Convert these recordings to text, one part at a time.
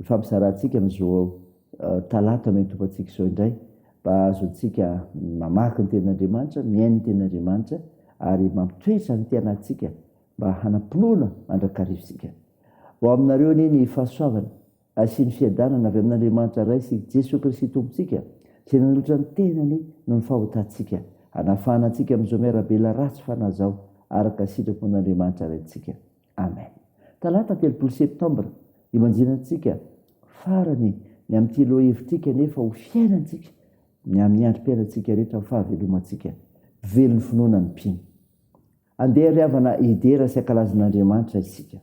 Ifampizarantsika ny zo ao. Talata no itopantsika izao indray mba hahazoantsika mamaky ny Tenin'Andriamanitra, mihaino ny Tenin'Andriamanitra ary mampitoetra ny anatintsika mba hanam-pinoana mandrakariva isika. Ho aminareo anie ny fahasoavana sy ny fiadanana avy amin'Andriamanitra Ray sy Jesoa Kristy Tompontsika izay nanolotra ny tenany noho ny fahotantsika hanafahana antsika amin'izao miarabelona ratsy fanahy izao araka ny sitrapon'Andriamanitra Raintsika. Amen! Talata telopolo septambra imanjinantsika farany ny amin'ity lohahevitrika nefa ho fiainantsika ny amin'ny androm-piainantsika rehetra ny fahavelomantsika. Velon'ny finoana ny mpino. Andeha ry havana hidera sy hankalaza an'Andriamanitra isika.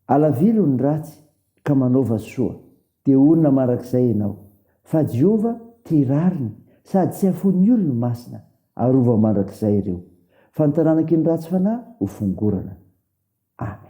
Alaviro ny ratsy ka manaova soa. Dia honina marak'izay ianao, fa Jehovah tia rariny sady tsy hafoin'ny olony masina, arova mandrakizay ireo, fa ny taranak'i ny ratsy fanahy ho fongorana. Amen.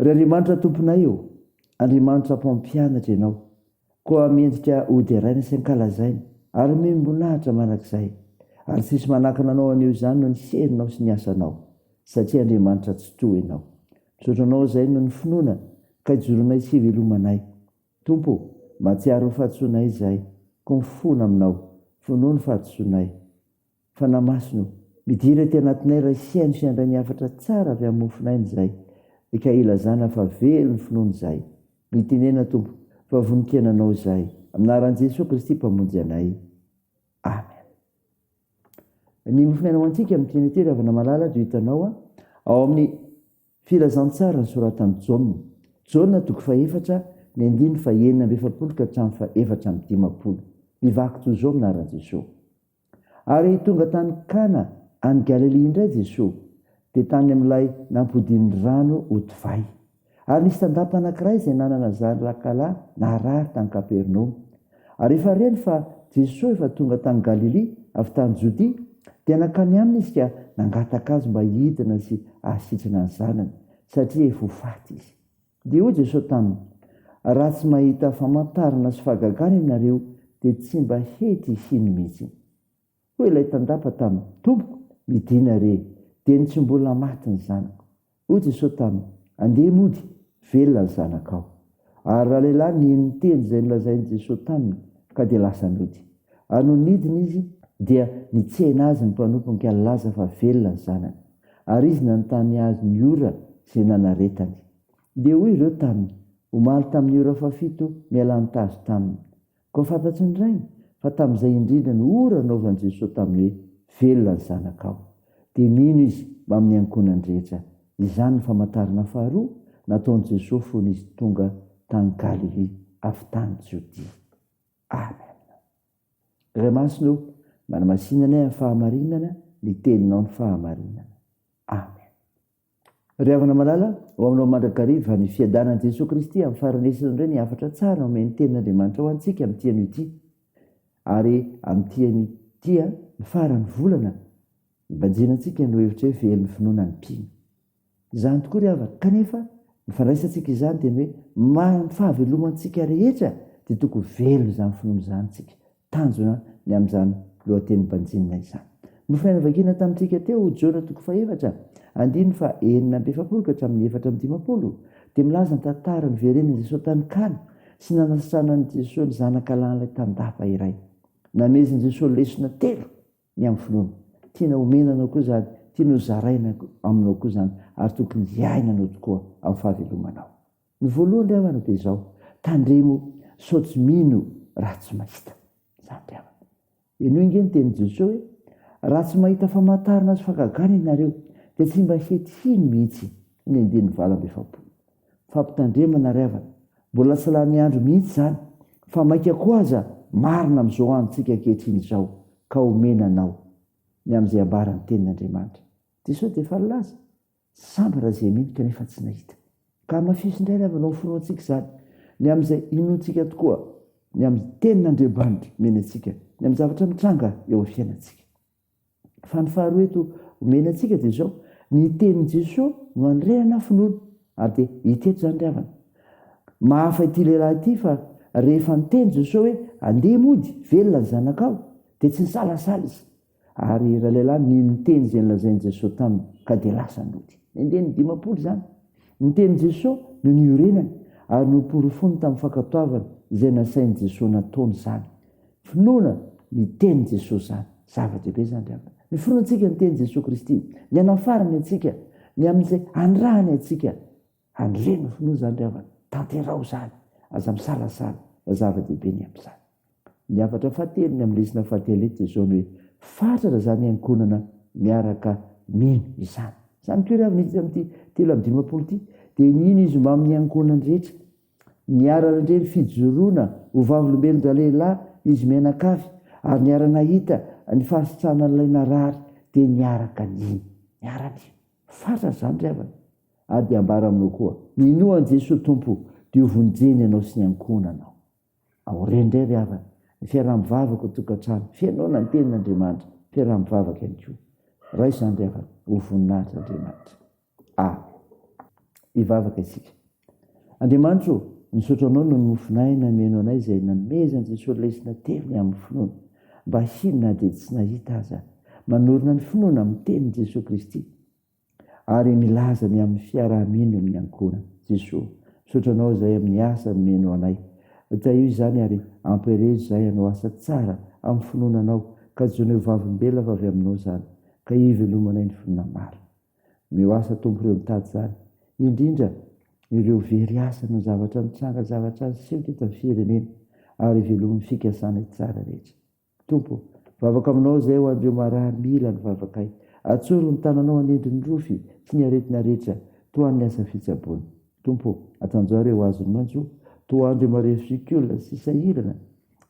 Ry Andriamanitra Tomponay ô, Andriamanitra Mpampianatra Ianao, koa mendrika hoderaina sy ankalazaina ary omem-boninahitra mandrakizay, ary tsy hisy manakana Anao haneho izany noho ny herinao sy ny asanao, satria Andriamanitra tsy toha Ianao. Misaotra Anao izay noho ny finoana, ka ijoroanay sy ivelomanay. Tompo ô, mahatsiaro ny fahadisoanay izay, koa mifona aminao, vonoa ny fahadisoanay. Fanahy Masina o! Midira ety anatinay Ray sy haino sy handray ny hafatra tsara avy amin'ny mofon'aina izahay ka hilazana fa velon'ny finoana izahay. Mitenena Tompo fa vonon-kena Anao izahay. Amin'anaran'i Jesoa Kristy Mpamonjy anay. Amen. Ny mofon'aina ho antsika amin'ny Trinite ry havana malala dia hitanao ao amin'ny filazantsara nosoratan'i Jaona. Jaona toko fahefatra ny andininy fahenina amby efapolo ka hatramin'ny fahefatra amby dimampolo. Mivaky toy izao amin'anaran'i Jesoa. Ary tonga tany Kana any Galilia indray Jesoa, dia tany amin'ilay nampodian'ny rano ho divay. Ary nisy tandapa anankiray izay nanana zanakalahy narary tany Kapernaomy. Ary rehefa reny fa Jesoa efa tonga tany Galilia avy tany Jodia, dia nankany aminy izy ka nangataka azy mba hidina sy hahasitrana ny zanany, satria efa ho faty izy. Dia hoy Jesosy taminy, Raha tsy mahita famantarana sy fahagagana ianareo, dia tsy mba hety hino mihitsy. Hoy ilay tandapa taminy, Tompoko, midìna re, dia ny tsy mbola maty ny zanako. Hoy Jesosy taminy, Andeha mody, velona ny zanakao. Ary ralehilahy nino ny teny izay nolazain'i Jesosy taminy, ka dia lasa nody. Ary nony nidina izy, dia nitsena azy ny mpanompony ka nilaza fa velona ny zanany. Ary izy nanontany azy ny ora izay nanaretany. Dia hoy ireo taminy, Omaly tamin'ny ora fahafito mialà ny tazo taminy. Koa fantatry ny rainy fa tamin'izay indrindra no ora naovan'i Jesoa taminy hoe, Velona ny zanakao. Dia nino izy mamin'ny ankohonany rehetra. Izany ny famantarana faharoa nataon'i Jesoa fony izy tonga tany Galilia avy tany Jodia. Amen. Ray masina o manamasina anay amin'ny fahamarinana ny teninao ny fahamarinana amen ry havana malala ho aminao mandrakariva ny fiadanan'i Jesoa Kristy amin'ny faranesany indray ny hafatra tsara omen'ny tenin'Andriamanitra ho antsika amin'ity anio ity ary amin'ity anio ity ny faran'ny volana ibanjinantsika no hevitra hoe velon'ny finoana ny mpino Izany tokoa ry havana, kanefa ny fandraisantsika izany dia ny hoe maharan'ny fahavelomantsika rehetra dia tokony velona izany finoana izany isika. Tanjona ny amin'izany lohateny banjinina izany. Nofinaina vakina tamintsika teo Jona toko fahefatra andininy faha enina amby efapolo ka hatramin'ny efatra amby dimampolo dia milaza ny tantara niverenan'i Jesoa tany Kana sy nanasitranan'i Jesoa ny zanaka lahin'ilay tandapa iray. Namezin'i Jesoa lesona telo. ny amin'ny finoana. Tiana omena anao koa izany, tiany ho zaraina aminao koa izany, ary tokony hiaina anao tokoa amin'ny fahavelomanao. Ny voalohany ry havana dia izao, tandremo sao tsy mino raha tsy mahita. Izany ry havana. Henoy ange ny tenin'i Jesoa hoe, Raha tsy mahita famantarana sy fahagagana ianareo, dia tsy mba hety hino mihitsy ny andininy valo amby efapolo. Fampitandremana ry havana, mbola tsy lany andro mihitsy izany fa maika koa aza marina amin'izao androntsika ankehitriny izao ka omena anao ny amin'izay ambaran'ny tenin'Andriamanitra. Dia sao dia efa nilaza? Sambo ra izay mino kanefa tsy nahita. Ka hamafiso indray ry havana ao amin'ny finoantsika izany, ny amin'izay inoantsika tokoa, ny amin'ny tenin'Andriamanitra omeny antsika, ny amin'ny zavatra mitranga eo amin'ny fiainantsika. Fa ny faharoa eto omena antsika dia izao, ny tenin'i Jesoa no anorenana finoana, ary dia hita eto izany ry havana. Mahafa ity lehilahy ity fa rehefa niteny Jesoa hoe andeha mody, velona ny zanakao, dia tsy nisalasala izy, ary ralehilahy nino ny teny izay nolazain'i Jesoa taminy, ka dia lasa nody. Nenjehin'ny dimampolo izany. Ny tenin'i Jesoa no niorenany, ary noporofoiny tamin'ny fankatoavana izay nasain'i Jesoa nataony izany. Finoana ny tenin'i Jesosy izany. Zava-dehibe izany ry havana. Ny finoantsika ny tenin'i Jesosy Kristy, ny hanafarany antsika, ny amin'izay hanirahany antsika. Handre ny finoa izany ry havana. Tanteraho izany. Aza misalasala fa zava-dehibe ny amin'izany. Ny hafatra fahatelo, ny amin'ny lesona fahatelo eto dia izao ny hoe, Fatratra izany hiankohonana miaraka mino izany. Izany koa ry havana hita amin'ity telo amby dimampolo ity. Dia ny hino izy mbamin'ny hiankohonany rehetra. Niara-nandre ny fijoroana ho vavolombelon-dralehilahy izy mianakavy ary niara-nahita ny fahasitranan'ilay narary dia niaraka nino. Niara-nino. Fatratra izany ry havana. Ary dia ambara aminao koa. Minoa an'i Jesoa Tompo dia ho vonjeny ianao sy ny ankohonanao. Aoriany indray ry havana, ny fiaraha-mivavaka ao tokantrano, fihainoana ny tenin'Andriamanitra, fiaraha-mivavaka ihany koa. Raha izany ry havana, ho voninahitr' Andriamanitra. A. Hivavaka isika. Andriamanitra ô, misaotra Anao noho ny mofon'ahy nameno anay izay namezan'i Jesoa lesona telo ny amin'ny finoana, mba hino na dia tsy nahita aza. Manorina ny finoana amin'ny tenin'i Jesoa Kristy ary milaza ny amin'ny fiaraha-mino ny ankohonana. Jesoa, misaotra Anao izay amin'ny asa nomeno anay. Tahio izany ary ampielezo izahay hanao asa tsara amin'ny finoana Anao, kajoinay ho vavolombelona avy Aminao izany, ka hivelomanay ny finoana marina. Mihoasa Tompo ireo mitady izany, indrindra ireo very asa noho ny zavatra nitranga, zavatra niseho teto amin'ny firenena ary velomin'ny fikasana hitsara rehetra. Tompo ô, vavaka aminao izay ho an'ireo marary mila ny vavakay. Atsoro ny tananao hanendry ny rofy sy ny aretina rehetra tohan'ny asa fitsaboana. Tompo ô, atanjaro ireo azon'ny maitso, tohan'ireo marefo sy olona sisa sahirana.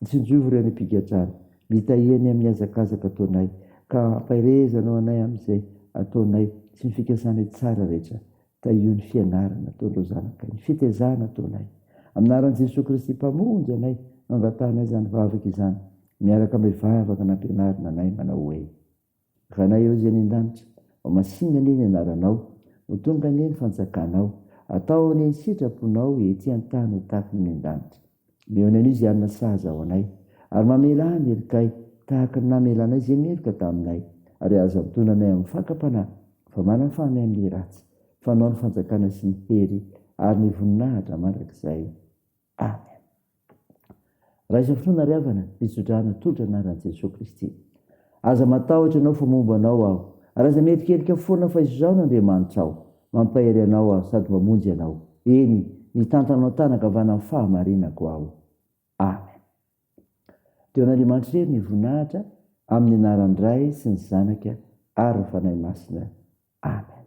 Tsinjovy ry any am-pigadrana, mitahia ny amin'ny hazakazaka ataonay, ka ampaherezanao anay amin'izay ataonay sy ny fikasanay tsara rehetra. Tahio ny fianarana ataon'ireo zanakay, ny fitezana ataonay. Amin'ny anaran'i Jesoa Kristy Mpamonjy anay, angatahana izany vavaka izany, miaraka amin'ny vavaka nampianarina anay manao hoe. Ranay ô izay any an-danitra. Ho masinina anie ny anaranao. Ho tonga anie ny fanjakanao. Atao anie ny sitraponao ety an-tany ho tahaka ny any an-danitra. Mihaona an'io izay hanana sahaza ho anay. Ary mamelà ny herikay tahaka ny namelanay izay meloka taminay. Ary aza antonona anay amin'ny fakam-panahy fa manafà anay amin'ny ratsy. Fanao ny fanjakana sy ny hery ary ny voninahitra mandrakizay. Amen. Raha izao fotoana ry havana, fitsodrano tolotra anaran'i Jesoa Kristy. Aza matahotra ianao fa momba anao aho, ary aza mierikerika foana fa izao no Andriamanitrao, mampahery anao aho sady mamonjy anao, eny, mitantana ao an-tanan-kavanan'ny fahamarinako aho. Amen. Dia ho an'Andriamanitra irery ny voninahitra, amin'ny anaran'ny Ray sy ny Zanaka ary ny Fanahy Masina. Amen.